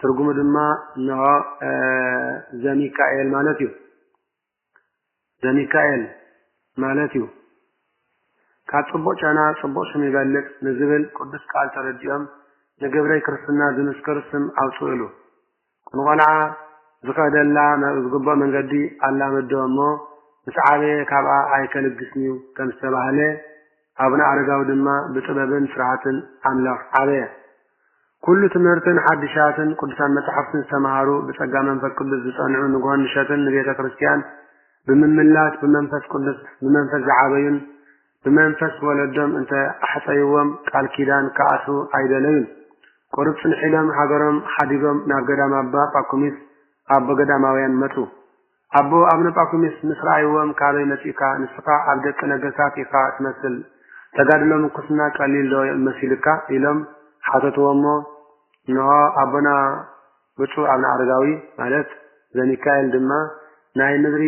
ትርጉሙ ድማ እንሆ፣ ዘሚካኤል ማለት እዩ። ዘሚካኤል ማለት እዩ። ካብ ጽቡቕ ጨና ጽቡቕ ሽም ይበልጽ ንዝብል ቅዱስ ቃል ተረዲኦም ንግብረይ ክርስትና ዝምስክር ስም ኣውጽእሉ። ንቆልዓ ዝኸደላ ናብ ዝግብኦ መንገዲ ኣላመድዎ እሞ ምስ ዓበየ ካብኣ ኣይከልግስንዩ ከም ዝተባህለ፣ ኣቡነ ኣረጋዊ ድማ ብጥበብን ፍርሃትን ኣምላኽ ዓበየ። ኩሉ ትምህርትን ሓድሻትን ቅዱሳን መጻሕፍትን ዝተመሃሩ፣ ብጸጋ መንፈስ ቅዱስ ዝጸንዑ፣ ንግሆን ምሸትን ንቤተ ክርስቲያን ብምምላስ ብመንፈስ ቅዱስ ብመንፈስ ዝዓበዩን ብመንፈስ ወለዶም እንተ ኣሕጸይዎም ቃል ኪዳን ክኣስሩ ኣይደለዩን። ቁሩብ ጽንሕ ኢሎም ሃገሮም ሓዲጎም ናብ ገዳም ኣባ ጳኩሚስ ኣቦ ገዳማውያን መጹ። ኣቦ ኣብነ ጳኩሚስ ምስ ረኣይዎም ካበይ መጺእካ ንስኻ ኣብ ደቂ ነገስታት ኢኻ ትመስል ተጋድሎ ምንኩስና ቀሊል ዶ መሲሉካ ኢሎም ሓተትዎሞ እንሆ ኣቦና ብጹእ ኣብነ ኣረጋዊ ማለት ዘሚካኤል ድማ ናይ ምድሪ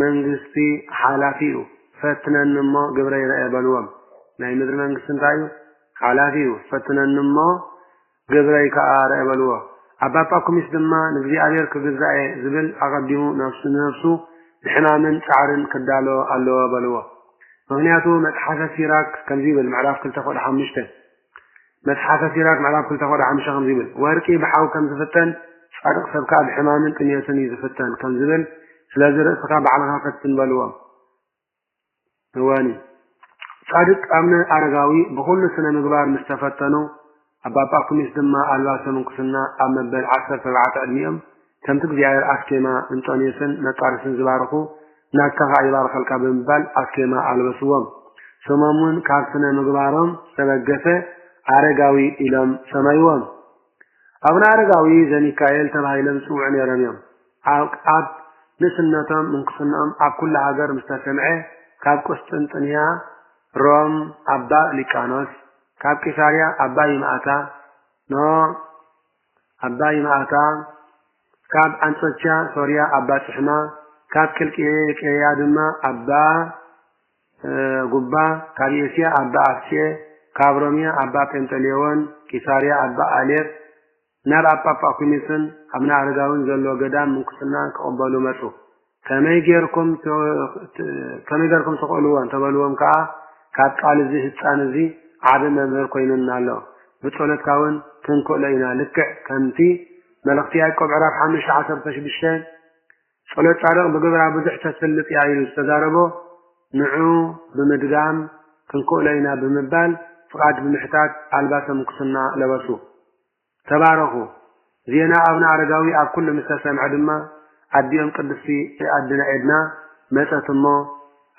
መንግስቲ ሓላፊ እዩ ፈትነኒ እሞ ግብረይ ረኤ በልዎም ናይ ምድሪ መንግስቲ እንታይ እዩ ሓላፊ እዩ ፈትነኒ እሞ ግብረይ ከኣ ኣርኣየ በልዎ። ኣባ ጳኩሚስ ድማ ንእግዚኣብሔር ክግዛእ'የ ዝብል ኣቐዲሙ ነፍሱ ንነፍሱ ንሕማምን ጻዕርን ክዳሎ ኣለዎ በልዎ። ምኽንያቱ መጽሓፈ ሲራክ ከምዚ ይብል ምዕራፍ ክልተ ቁጥሪ ሓሙሽተ መጽሓፈ ሲራክ ምዕራፍ ክልተ ቁጥሪ ሓሙሽተ ከምዚ ይብል ወርቂ ብሓው ከም ዝፍተን ጻድቕ ሰብ ከኣ ብሕማምን ጥምየትን እዩ ዝፍተን ከም ዝብል ስለዚ ርእስኻ ባዕልኻ ፈትን በልዎ። እወኒ ጻድቅ ኣብነ ኣረጋዊ ብኹሉ ስነ ምግባር ምስ ተፈተኑ ኣባ ጳኩሚስ ድማ ኣልባሰ ምንኩስና ኣብ መበል ዓሰርተ ኣርባዕተ ዕድሚኦም ከምቲ እግዚኣብሔር ኣስኬማ እንጦንዮስን መቃርስን ዝባርኹ ናትካ ኸኣ ይባርኸልካ ብምባል ኣስኬማ ኣልበስዎም። ስሞም እውን ካብ ስነ ምግባሮም ዝተበገሰ ኣረጋዊ ኢሎም ሰመይዎም። ኣቡነ ኣረጋዊ ዘሚካኤል ተባሂሎም ዝጽውዑ ነይሮም እዮም። ኣብ ንእስነቶም ምንኩስንኦም ኣብ ኩሉ ሃገር ምስ ተሰምዔ ካብ ቍስጥንጥንያ ሮም ኣባ ሊቃኖስ ካብ ቂሳርያ ኣባ ይምኣታ ን ኣባ ይምኣታ ካብ ኣንጾኪያ ሶርያ ኣባ ጽሕማ ካብ ቂልቅያ ድማ ኣባ ጉባ ካብ ኤስያ ኣባ ኣፍቄ ካብ ሮምያ ኣባ ጴንጠሌዎን ቂሳርያ ኣባ ኣሌፍ ናብ ኣብ ጳጳኩሚስን ኣብ ንኣረጋዊን ዘሎ ገዳም ምንኩስና ክቕበሉ መጹ። ከመይ ጌርኩም ከመይ ጌርኩም ትኽእልዎ እንተ በልዎም ከኣ ካብ ቃል እዚ ህጻን እዚ ዓቢ መምህር ኮይኑና ኣሎ ብጸሎትካ ውን ክንክእሎ ኢና ልክዕ ከምቲ መልእኽቲ ያእቆብ ዕራፍ ሓሙሽተ ዓሰርተ ሽዱሽተ ጸሎትጻድቕ ብግብራ ብዙሕ ተስልጥ እያ ኢሉ ዝተዛረቦ ንዑ ብምድጋም ክንክእሎ ኢና ብምባል ፍቓድ ብምሕታት ኣልባሰ ምንኩስና ለበሱ። ተባረኹ! ዜና ኣቡነ ኣረጋዊ ኣብ ኩሉ ምስ ተሰምዐ ድማ ኣዲኦም ቅድስቲ ኣድና ኤድና መጸት እሞ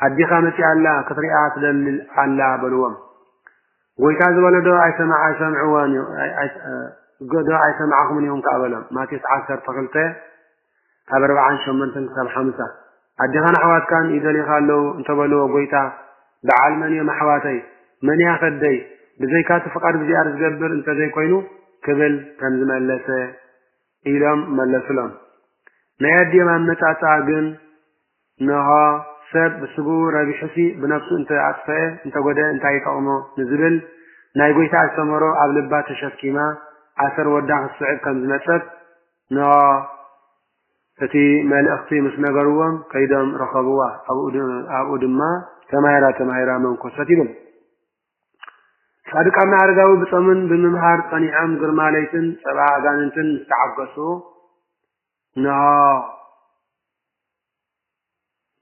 ኣዲኻ መጺኣ ኣላ ክትሪኣ ትደሊ ኣላ በልዎም። ጎይታ ዝበሎ ዶ ኣይሰምዕዎን ዶ ኣይሰማዕኹምን ኢኹም ከኣ በሎም። ማቴዎስ ዓሰርተ ክልተ ካብ ኣርብዓን ሸሞንተን ክሳብ ሓምሳ። ኣዴኻን ኣሕዋትካን ይደልዩኻ ኣለዉ እንተ በልዎ ጐይታ፣ በዓል መን እዮም ኣሕዋተይ? መን'ያ ከብደይ? ብዘይካ'ቲ ፍቓድ እግዚኣብሔር ዝገብር እንተ ዘይኮይኑ ክብል ከም ዝመለሰ ኢሎም መለሱሎም። ናይ ኣዲኦም ኣመጻጽኣ ግን እንሆ ሰብ ብስግኡ ረቢሑሲ ብነፍሱ እንተ ኣጥፈኤ እንተ ጐደኤ እንታይ ይጠቕሞ ንዝብል ናይ ጐይታ ኣስተምህሮ ኣብ ልባ ተሸኪማ ኣሰር ወዳ ክትስዕብ ከም ዝመጸት ን እቲ መልእኽቲ ምስ ነገርዎም ከይዶም ረኸብዋ ኣብኡ ድማ ተማሂራ ተማሂራ መንኮሰት ይብል። ጻድቃና ኣረጋዊ ብጾምን ብምምሃር ጸኒዖም ግርማ ለይትን ጸባ ኣጋንንትን ምስ ተዓገሱ ን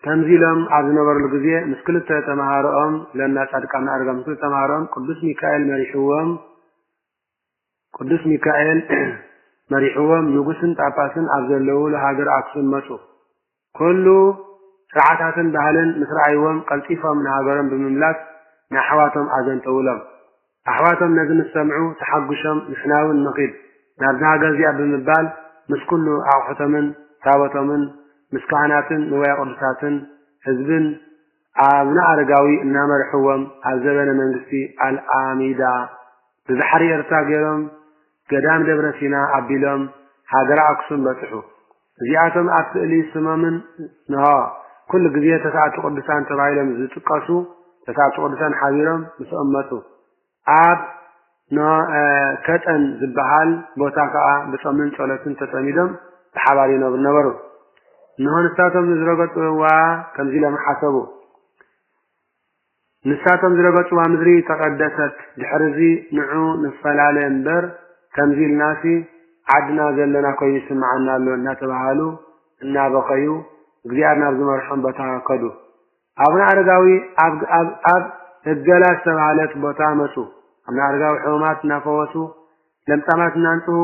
ከምዚ ኢሎም ኣብ ዝነበርሉ ግዜ ምስ ክልተ ተማሃሮኦም ለና ጻድቃና ኣረጋዊ ምስ ክልተ ተማሃሮኦም ቅዱስ ሚካኤል መሪሕዎም ቅዱስ ሚካኤል መሪሕዎም ንጉስን ጳጳስን ኣብ ዘለዉሉ ሃገር ኣክሱም መጹ። ኩሉ ስርዓታትን ባህልን ምስ ረኣይዎም ቀልጢፎም ንሃገሮም ብምምላስ ንኣሕዋቶም ኣዘንተውሎም። ኣሕዋቶም ነዚ ምስ ሰምዑ ተሓጉሾም ንሕናውን ንኺድ ናብዛ ሃገር እዚኣ ብምባል ምስ ኩሉ ኣቑሑቶምን ታቦቶምን ምስ ካህናትን ንዋየ ቅዱሳትን ህዝብን ኣቡነ ኣረጋዊ እናመርሕዎም ኣብ ዘበነ መንግስቲ ኣልኣሚዳ ብባሕሪ ኤርትራ ገይሮም ገዳም ደብረ ሲና ኣቢሎም ሃገረ ኣክሱም በጽሑ። እዚኣቶም ኣብ ስእሊ ስሞምን ንሆ ኩሉ ግዜ ተስኣቱ ቅዱሳን ተባሂሎም ዝጥቀሱ ተስኣቱ ቅዱሳን ሓቢሮም ምስኦም መጹ። ኣብ ኖእ ከጠን ዝበሃል ቦታ ከኣ ብጾምን ጸሎትን ተጸሚዶም ብሓባር ይነብሩ ነበሩ። እንሆ ንሳቶም ንዝረገጽዋ ከምዚ ኢሎም ሓሰቡ፣ ንሳቶም ዝረገጽዋ ምድሪ ተቐደሰት፣ ድሕርዚ ንዑ ንፈላለ እምበር ከምዚ ኢልናሲ ዓድና ዘለና ኮይኑ ይስምዓና ኣሎ እናተባሃሉ እናበኸዩ እግዚኣብሔር ናብ ዝመርሖም ቦታ ከዱ። ኣቡነ ኣረጋዊ ኣብ እገላ ዝተባህለት ቦታ መፁ። ኣቡነ ኣረጋዊ ሕሙማት እናፈወሱ፣ ለምጻማት እናንጽሁ፣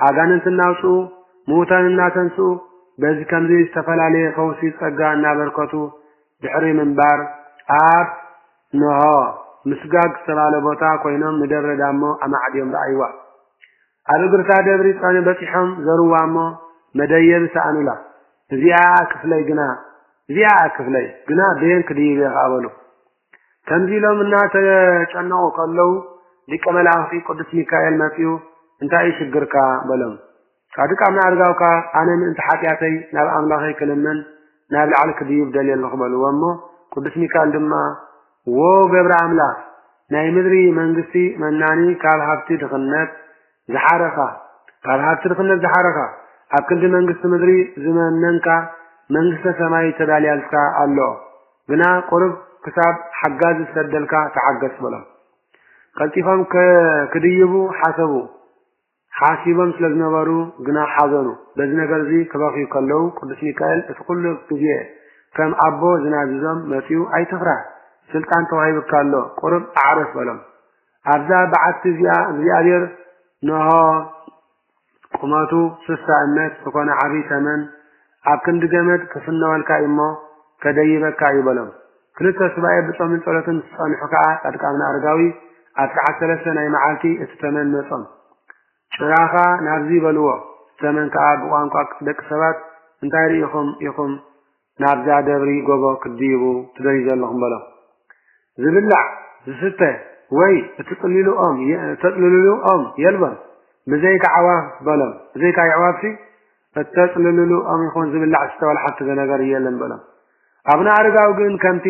ኣጋንንት እናውፅኡ፣ ምዉታን እናተንስኡ በዚ ከምዚ ዝተፈላለየ ፈውሲ ጸጋ እናበርከቱ ድሕሪ ምንባር ኣብ እንሆ ምስጋግ ዝተባህለ ቦታ ኮይኖም ንደብረ ዳሞ ኣማዕድዮም ረኣይዋ። ኣብ እግርታ ደብሪ ጸኒ በጺሖም ዘርዋ እሞ መደየቢ ሰኣኑላ። እዚኣ እያ ክፍለይ ግና እዚኣ እያ ክፍለይ ግና በየን ክድይብ'የ ኸኣ በሉ። ከምዚ ኢሎም እናተጨነቑ ከለዉ ሊቀ መላእኽቲ ቅዱስ ሚካኤል መጺኡ እንታይ እዩ ሽግርካ በሎም። ጻድቃና ኣርጋውካ ኣነ ምእንቲ ሓጢኣተይ ናብ ኣምላኸይ ክልምን ናብ ላዕሊ ክድይብ ደልየ ኣለኹ በልዎ እሞ ቅዱስ ሚካል ድማ ዎ ገብረ ኣምላኽ ናይ ምድሪ መንግስቲ መናኒ ካብ ሃብቲ ድኽነት ዝሓረኻ ካብ ሃብቲ ድኽነት ዝሓረኻ ኣብ ክንዲ መንግስቲ ምድሪ ዝመነንካ መንግስተ ሰማይ ተዳልያልካ ኣሎ ግና ቁርብ ክሳብ ሓጋዚ ዝሰደልካ ተዓገስ በሎም ቀልጢፎም ክድይቡ ሓሰቡ ሓሲቦም ስለ ዝነበሩ ግና ሓዘኑ። በዚ ነገር'ዚ ክበኽዩ ከለዉ ቅዱስ ሚካኤል እቲ ኩሉ ግዜ ከም ኣቦ ዝናዝዞም መጺኡ ኣይትፍራህ ስልጣን ተዋሂቡካ ኣሎ ቁሩብ ኣዕርፍ በሎም። ኣብዛ በዓቲ እዚኣ እግዚኣብሔር ነሆ ቁመቱ ስሳ እመት ዝኾነ ዓቢይ ተመን፣ ኣብ ክንዲ ገመድ ክፍነወልካ እዩ'ሞ ከደይበካ እዩ በሎም። ክልተ ሱባኤ ብጾምን ጸሎትን ምስ ጸንሑ ከኣ ጻድቃብና ኣረጋዊ ኣብ ሰዓት ሰለስተ ናይ መዓልቲ እቲ ተመን መጾም። ጭራኻ ናብዚ በልዎ። እቲ ተመን ከኣ ብቋንቋ ደቂ ሰባት እንታይ ርኢኹም ኢኹም ናብዛ ደብሪ ጎቦ ክትድይቡ ትደልዩ ዘለኹም በሎም። ዝብላዕ፣ ዝስተ ወይ እትጽልይሉ ኦም እተጽልልሉ ኦም የልቦን፣ ብዘይካ ኣዕዋፍ በሎም። ብዘይካ የዕዋፍሲ እተጽልልሉ ኦም ይኹን ዝብላዕ ዝስተ ወላ ሓንቲ ነገር የለን በሎም። ኣቡነ ኣረጋዊ ግን ከምቲ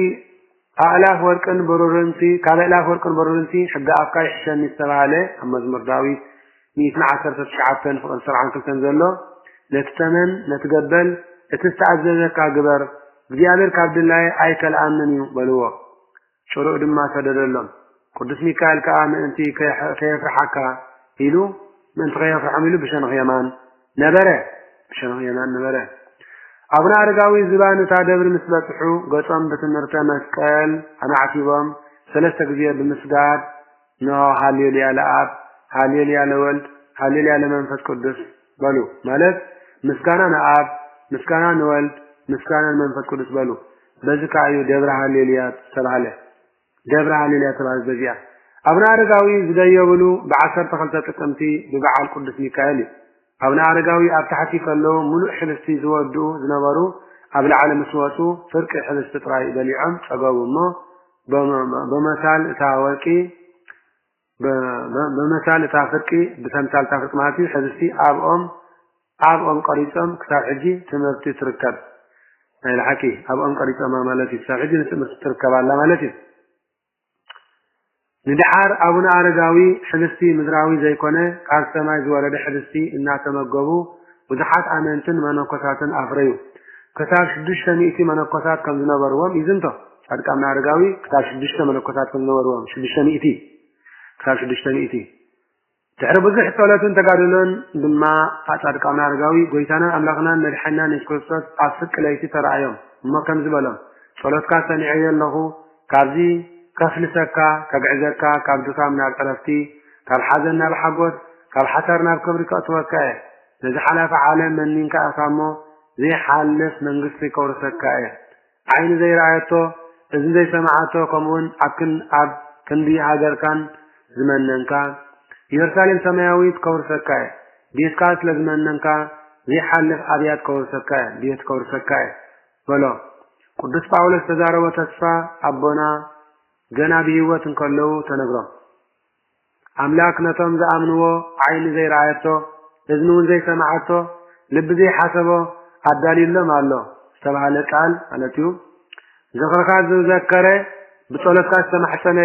ኣእላፍ ወርቅን ብሩርንሲ ካብ ኣእላፍ ወርቅን ብሩርንሲ ሕጊ ኣፍካ ይሕሸኒ ዝተባህለ ኣብ መዝሙር ዳዊት ሚእትን ዓሰርተ ትሽዓተን ፍቕሪ ሰብዓን ክልተን ዘሎ ነቲ ተመን ነቲ ገበል እቲ ዝተኣዘዘካ ግበር እግዚኣብሔር ካብ ድላየ ኣይከልኣንን እዩ በልዎ። ጭርኡ ድማ ሰደደሎም። ቅዱስ ሚካኤል ከኣ ምእንቲ ከየፍርሓካ ኢሉ፣ ምእንቲ ከየፍርሖም ኢሉ ብሸነኽ የማን ነበረ፣ ብሸነኽ የማን ነበረ። ኣቡነ ኣረጋዊ ዝባን እታ ደብሪ ምስ በጽሑ ገጾም ብትምህርተ መስቀል ኣማዕቲቦም ሰለስተ ግዜ ብምስጋድ እንሆ ሃሌ ሉያ ለኣብ፣ ሃሌ ሉያ ለወልድ፣ ሃሌ ሉያ ለመንፈስ ቅዱስ በሉ። ማለት ምስጋና ንኣብ፣ ምስጋና ንወልድ፣ ምስጋና ንመንፈስ ቅዱስ በሉ። በዚ ከዓ እዩ ደብረ ሃሌ ሉያ ዝተባህለ። ደብረ ሃሌ ሉያ ዝተባህለት በዚኣ። ኣቡነ ኣረጋዊ ዝደየብሉ ብዓሰርተ ክልተ ጥቅምቲ ብበዓል ቅዱስ ሚካኤል እዩ። ኣቡነ ኣረጋዊ ኣብ ታሕቲ ከለዉ ምሉእ ሕብስቲ ዝወድኡ ዝነበሩ ኣብ ላዕሊ ምስ ወጹ ፍርቂ ሕብስቲ ጥራይ በሊዖም ጸገቡ እሞ በመሳል እታ ወርቂ በመሳል እታ ፍርቂ ብተምሳል እታ ፍርቂ ማለት እዩ ሕብስቲ ኣብ ኦም ኣብ ኦም ቀሪጾም ክሳብ ሕጂ ትምህርቲ ትርከብ ናይ ልሓቂ ኣብ ኦም ቀሪጾማ ማለት እዩ ክሳብ ሕጂ ንትምህርቲ ትርከብ ኣላ ማለት እዩ ንደሓር ኣቡነ ኣረጋዊ ኅብስቲ ምድራዊ ዘይኮነ ካብ ሰማይ ዝወረደ ኅብስቲ እናተመገቡ ብዙሓት ኣመንትን መነኮሳትን ኣፍረዩ። ክሳብ ሽዱሽተ ሚእቲ መነኮሳት ከም ዝነበርዎም ይዝንቶ። ጻድቅ ኣቡነ ኣረጋዊ ክሳብ ሽዱሽተ መነኮሳት ከም ዝነበርዎም ሽዱሽተ ሚእቲ ክሳብ ሽዱሽተ ሚእቲ። ድሕሪ ብዙሕ ጸሎትን ተጋድሎን ድማ እታ ጻድቃን ኣረጋዊ ጎይታናን ኣምላኽናን መድሓኒናን የሱስ ክርስቶስ ኣብ ፍርቂ ለይቲ ተራኣዮም እሞ ከምዚ በሎም ጸሎትካ ሰሚዐዮ ኣለኹ ካብዚ ከፍልሰካ ከግዕዘካ ካብ ድካም ናብ ዕረፍቲ ካብ ሓዘን ናብ ሓጎስ ካብ ሓሳር ናብ ክብሪ ከእትወካ እየ ነዚ ሓላፊ ዓለም መኒንካ ኢኻ እሞ ዘይሓልፍ መንግስቲ ከውርሰካ እየ ዓይኒ ዘይረኣየቶ፣ እዝኒ ዘይሰመዓቶ፣ ከምኡውን ኣብክን ኣብ ክንዲ ሃገርካን ዝመነንካ፣ ኢየሩሳሌም ሰማያዊት ከውርሰካ እየ፣ ቤትካ ስለ ዝመነንካ፣ ዘይሓልፍ ኣብያት ከውርሰካ እየ፣ ቤት ከውርሰካ እየ፣ በሎ። ቅዱስ ጳውሎስ ዝተዛረቦ ተስፋ ኣቦና ገና ብህይወት እንከለዉ ተነግሮም። ኣምላክ ነቶም ዝኣምንዎ ዓይኒ ዘይረኣየቶ እዝኒ ውን ዘይሰመዓቶ ልቢ ዘይሓሰቦ ኣዳልዩሎም ኣሎ ዝተብሃለ ቃል ማለት እዩ ዝኽርኻ ዝዘከረ ብጸሎትካ ዝተማሕጸነ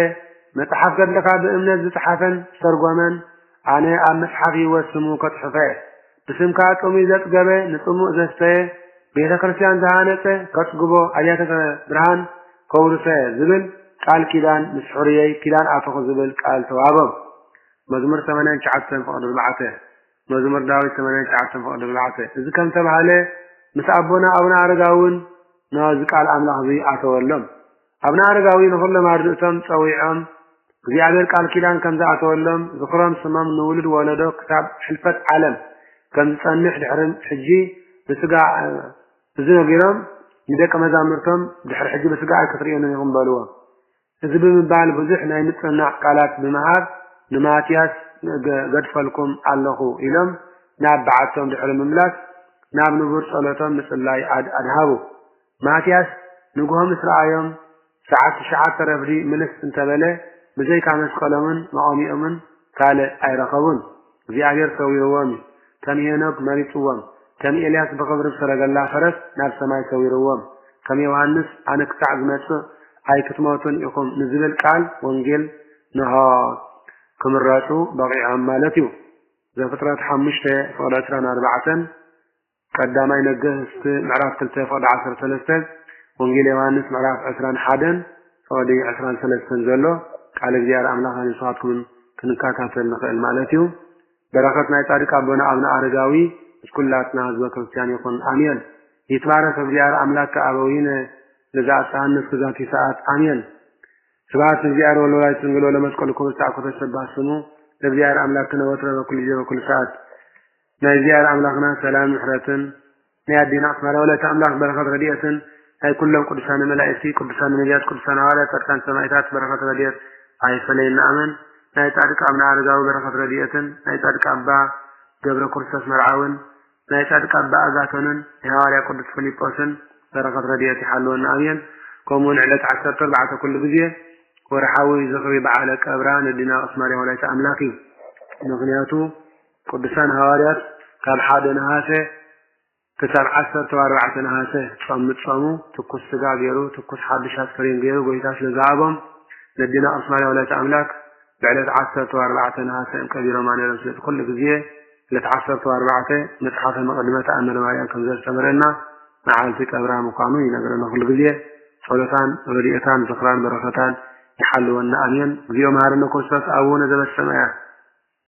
መጽሓፍ ገድልኻ ብእምነት ዝጽሓፈን ዝተርጎመን ኣነ ኣብ መጽሓፍ ህይወት ስሙ ከጽሕፎ እየ ብስምካ ጥሙይ ዘጽገበ ንጽሙእ ዘስተየ ቤተ ክርስቲያን ዝሃነጸ ከጽግቦ ኣብያተ ብርሃን ከውርሰ ዝብል ቃል ኪዳን ምስ ሕሩየይ ኪዳን ኣተኹ ዝብል ቃል ተዋህቦም። መዝሙር ሰማንያን ትሽዓተን ፍቕዲ ኣርባዕተ መዝሙር ዳዊት ሰማንያን ትሽዓተን ፍቕዲ ኣርባዕተ እዚ ከም ተባህለ ምስ ኣቦና ኣቡነ ኣረጋውን ነዚ ቃል ኣምላኽ እዚ ኣተወሎም። ኣብነ ኣረጋዊ ንኹሎም ኣርድእቶም ጸዊዖም እግዚኣብሔር ቃል ኪዳን ከም ዝኣተወሎም ዝኽሮም ስሞም ንውሉድ ወለዶ ክሳብ ሕልፈት ዓለም ከም ዝጸንሕ ድሕሪ ሕጂ ብስጋ እዚ ነጊሮም ንደቀ መዛሙርቶም ድሕሪ ሕጂ ብስጋ ኣይክትርእዮንን ኢኹም በልዎም። እዚ ብምባል ብዙሕ ናይ ምጽንናዕ ቃላት ብምሃብ ንማትያስ ገድፈልኩም ኣለኹ ኢሎም ናብ በዓቶም ድሕሪ ምምላስ ናብ ንቡር ጸሎቶም ምጽላይ ኣድሃቡ። ማትያስ ንግሆ ምስ ረኣዮም፣ ሰዓት ትሽዓተ ረፍዲ ምልስ እንተ በለ፣ ብዘይካ መስቀሎምን መቖሚኦምን ካልእ ኣይረኸቡን። እግዚኣብሄር ሰዊርዎም እዩ። ከም ሄኖክ መሪጽዎም፣ ከም ኤልያስ ብኽብሪ ብሰረገላ ፈረስ ናብ ሰማይ ሰዊርዎም፣ ከም ዮሃንስ ኣነ ክሳዕ ዝመጽእ ኣይክትሞቱን ኢኹም ንዝብል ቃል ወንጌል ንሆ ክምረጹ በቒዖም ማለት እዩ። ዘፍጥረት ሓሙሽተ ፍቕዲ ዕስራን ኣርባዕተን ቀዳማይ ነገስት ምዕራፍ ክልተ ፍቅዲ ዓሰርተ ሰለስተ ወንጌል ዮሃንስ ምዕራፍ ዕስራን ሓደን ፍቅዲ ዕስራን ሰለስተን ዘሎ ቃል እግዚኣብሔር ኣምላኽና ንስኻትኩምን ክንካታተል ንኽእል ማለት እዩ። በረኸት ናይ ጻድቅ ኣቦና ኣብነ ኣረጋዊ ምስ ኩላትና ህዝበ ክርስቲያን ይኹን ኣሜን። ይትባረክ እግዚኣብሔር ኣምላክ ከኣበዊነ ለዘኣብጽሓነ እስከ ዛቲ ሰዓት ኣሜን። ስብሐት ንእግዚኣብሔር ወለወላዲቱ ድንግል ወለመስቀሉ ክቡር ዝተዓኮተ ሰባህ ስሙ ለእግዚኣብሔር ኣምላክነ ወትረ በኩሉ ጊዜ በኩሉ ሰዓት ናይ እዚኣብሔር ኣምላክና ሰላምን ምሕረትን ናይ ኣዴና ኣስማራ ወላዲተ ኣምላክ በረከት ረዲኤትን ናይ ኩሎም ቅዱሳነ መላኢክቲ ቅዱሳነ ነብያት ቅዱሳነ ሃዋርያት ጻድቃን ሰማኢታት በረከት ረዲኤት ኣይፈለየና ኣመን ናይ ጻድቅ ኣብነ ኣረጋዊ በረከት ረዲኤትን ናይ ጻድቅ ኣባ ገብረ ክርስቶስ መርዓውን ናይ ጻድቅ ኣባ ኣጋቶንን ናይ ሃዋርያ ቅዱስ ፍሊጶስን በረከት ረዲኤት ይሓልወና ኣሜን ከምኡ ን ዕለት ዓሰርተ ኣርባዕተ ኩሉ ግዜ ወርሓዊ ዝኽሪ በዓለ ቀብራ ነዲና ኦስማርያ ወላዲተ ኣምላክ እዩ ምክንያቱ ቅዱሳን ሃዋርያት ካብ ሓደ ነሃሰ ክሳብ ዓሰርተው ኣርባዕተ ነሃሰ ጾም ምጾሙ ትኩስ ስጋ ገይሩ ትኩስ ሓዱሽ ኣስከሬን ገይሩ ጎይታ ስለ ዝሃቦም ነዴና ቅድስት ማርያም ወላዲተ ኣምላክ ብዕለት ዓሰርተው ኣርባዕተ ነሃሰ እም ቀቢሮማ ነይሮም ስለዚ ኩሉ ግዜ ዕለት ዓሰርተው ኣርባዕተ መጽሓፈ መቐድመ ተኣምረ ማርያም ከም ዘስተምረና መዓልቲ ቀብራ ምዃኑ ይነግረና ኩሉ ግዜ ጸሎታን ረድኤታን ዝኽራን በረኸታን ይሓልወና ኣሜን እግዚኦ መሃርነ ክርስቶስ ኣቡነ ዘበሰማያት